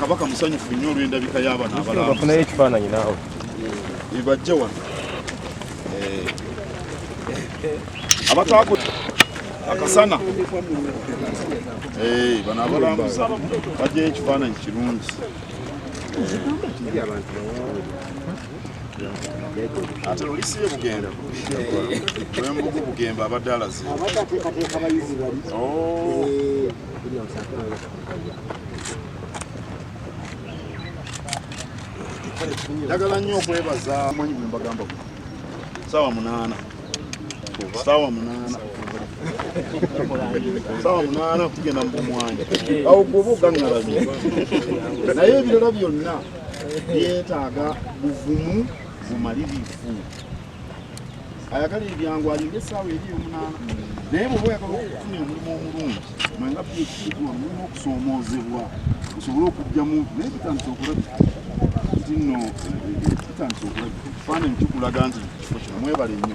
kabaka musanyufu nnyo olw'endabika y'abana abalabafunayo ekifaananyi naawe ebajja wano eh. abatwako akasana eh, bano abalambuza bajjayo ekifaananyi kirungi ate lulisi ye bugenda lwembugu bugemba abadde alaze njagala nnyo okwebaza manyi bwe mbagamba saawa munaana saawa munaana saawa munaana kugenda mu bumwanyi awo gwoba ogaŋŋalabye naye ebirala byonna byetaaga buvumu bumalirivu ayagala ebyangu alinde essaawa eri omunaana naye bwoba oyagala okufuna omulimu omulungi mwenga byekikiwa mulina okusoomoozebwa osobole okujjamu naye bitandisa okulabika nti nno bitandisa okulabika ekifaananyi kikulaga nti kifo kino mwebale nnyo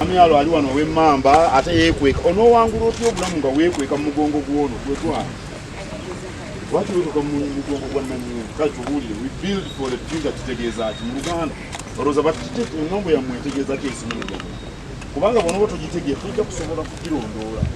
Amyalo ali wano ow'emmamba ate yeekweka. Onoowangula otya obulamu nga weekweka mu mugongo gw'ono gwe gwana? Lwaki weekweka mu mugongo gwa nnannyini? Kale tubuulire, we build for the future kitegeeza ki mu Luganda? Olowooza bakite engambo yammwe etegeeza ki ensimiro gyammwe? Kubanga bw'onooba togitegeera tojja kusobola kugirondoola.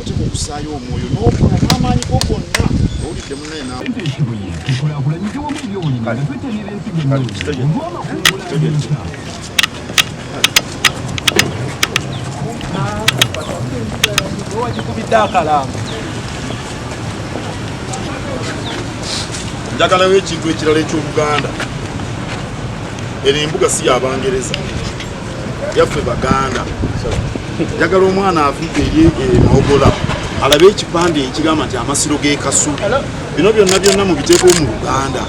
oteeka okusaayo omwoyo n'okola n'amaanyi go gonna owulidde munaye nawe tukulakulanyije wamu ebyobulimi nga twetanira ensigo wagikubidde akalambo njagalawo ekintu ekirala eky'oluganda eno embuga si yabangereza yaffe baganda njagala omwana avudde ye enogola eh, alabe ekipande ekigamba nti amasiro g'ekasubi bino byonna byonna mu biteeko mu luganda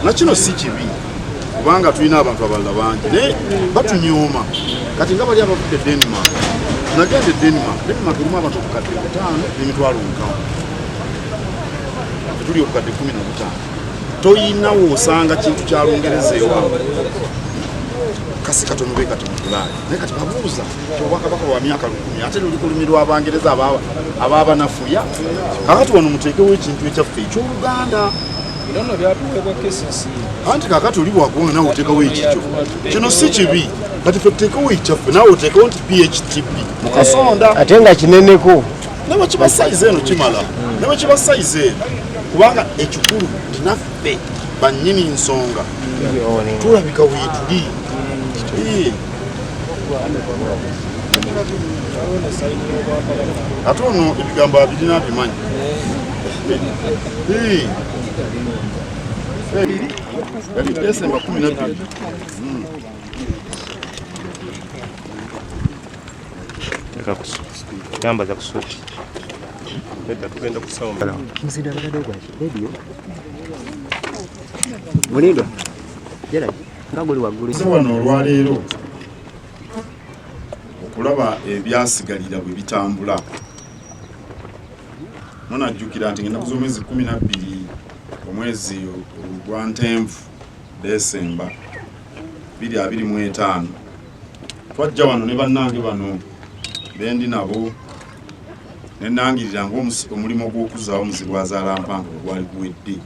nakino si kibi kubanga tulina abantu abalala bangi naye batunyooma kati nga bali abavudde denmark nagenda e denmark denmark erimu abantu obukadde butaano n'emitwalo nkawo tuli obukadde kumi na butaano toyina wosanga kintu kya lungereza ewaabwe kasi katono be kati mutulaali naye kati babuuza obwakabaka bwa myaka lukumi ate luli kulumirwa abangereza ababanafuya kakati wano muteekewo ekintu ekyaffe ekyoluganda anti kakati oli bwakuwona nawe oteekawo ekikyo kino si kibi kati fe tuteekewo ekyaffe nawe oteekewo nti phtb mukasonda ate nga kineneko ne bwe kiba sayizi eno kimala ne bwe kiba sayizi eno kubanga ekikulu tinaffe bannyini nsonga tulabika weetuli ate ono ebigambo abirina abimanyi yali desemba kumi nabbiri yambaza ku suuti nedda tugenda kusawo muzinda abadde ogwaki rediyo mulindwa geraki nga guli waggulu wano olwaleero okulaba ebyasigalira bwe bitambula munajjukira nti ngenaku z'omwezi kumi nabbiri omwezi ogwa ntenvu desemba biri abiri mu etaano twajja wano ne bannange bano bendi nabo nenangirira nga omulimu ogw'okuzaawo omuzibu azaala mpanga ogwali guwedde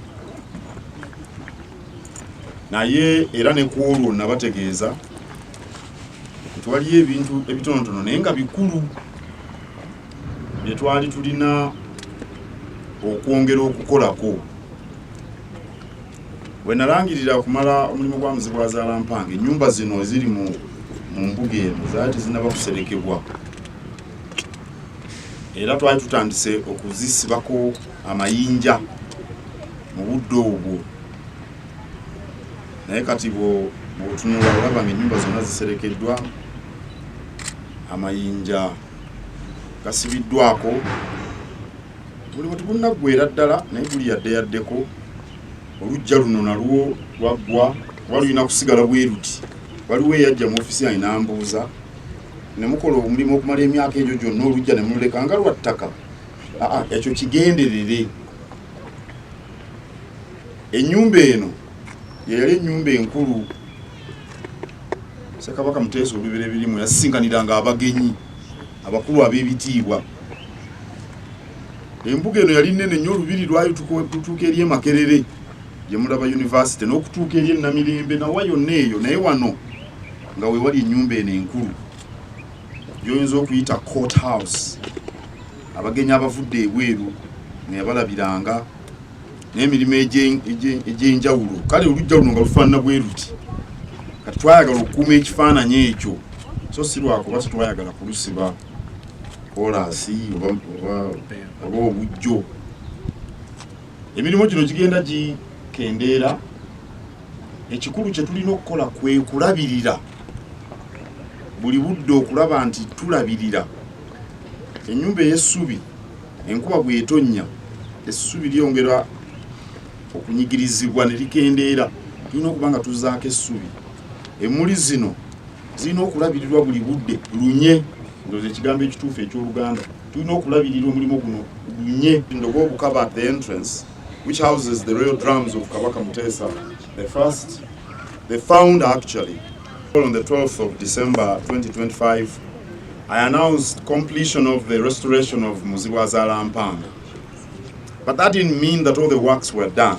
naye era ne ku olwo nabategeeza nti waliyo ebintu ebitonotono naye nga bikulu bye twali tulina okwongera okukolako Bwe nalangirira okumala omulimu gwa Muzibwazaala Mpanga, ennyumba zino eziri mu mbuga eno zaali tezinaba kuserekebwa era twali tutandise okuzisibako amayinja mu budde obwo naye kati bwotunula olaba nga ennyumba zonna ziserekeddwa amayinja gasibiddwako buli bwe tugunnaggwera ddala naye guli yadde yaddeko olujja luno nalwo lwaggwa kuba lulina kusigala bweruti waliwo eyajja mu ofisi yange nambuuza ne mukola omulimu okumala emyaka egyo gyonna olujja ne mululeka nga lwa ttaka aa ekyo kigenderere ennyumba eno yeyali ennyumba enkulu sekabaka muteesa olubera ebirimu yasisinkaniranga abagenyi abakulu ab'ebitiibwa embuga eno yali nnene nnyo olubiri lwayo tukutuuka eri emakerere gye mulaba yunivasite n'okutuuka eri enamirembe nawa yonna eyo naye wano nga wewali ennyumba eno enkulu gyoyinza okuyita court house abagenyi abavudde ebweru neyabalabiranga n'emirimu egy'enjawulo kale olujja luno nga lufaanana bwe luti kati twayagala okukuuma ekifaananyi ekyo so si lwakuba si twayagala kulusiba kolansi oba obujjo emirimu gino gigenda gikendeera ekikulu kye tulina okukola kwe kulabirira buli budde okulaba nti tulabirira ennyumba ey'essubi enkuba bw'etonnya essubi lyongera okunyigirizibwa ne likendeera tulina okuba nga tuzaako essubi Emmuli zino zirina okulabirirwa buli budde lunye ndoza ekigambo ekituufu eky'oluganda tulina okulabirira omulimu guno lunye ndoga obukaba at the entrance which houses the royal drums of kabaka muteesa the first the found actually on the 12th of december 2025 i announced completion of the restoration of muzibwazaala mpanga but that didn't mean that all the works were done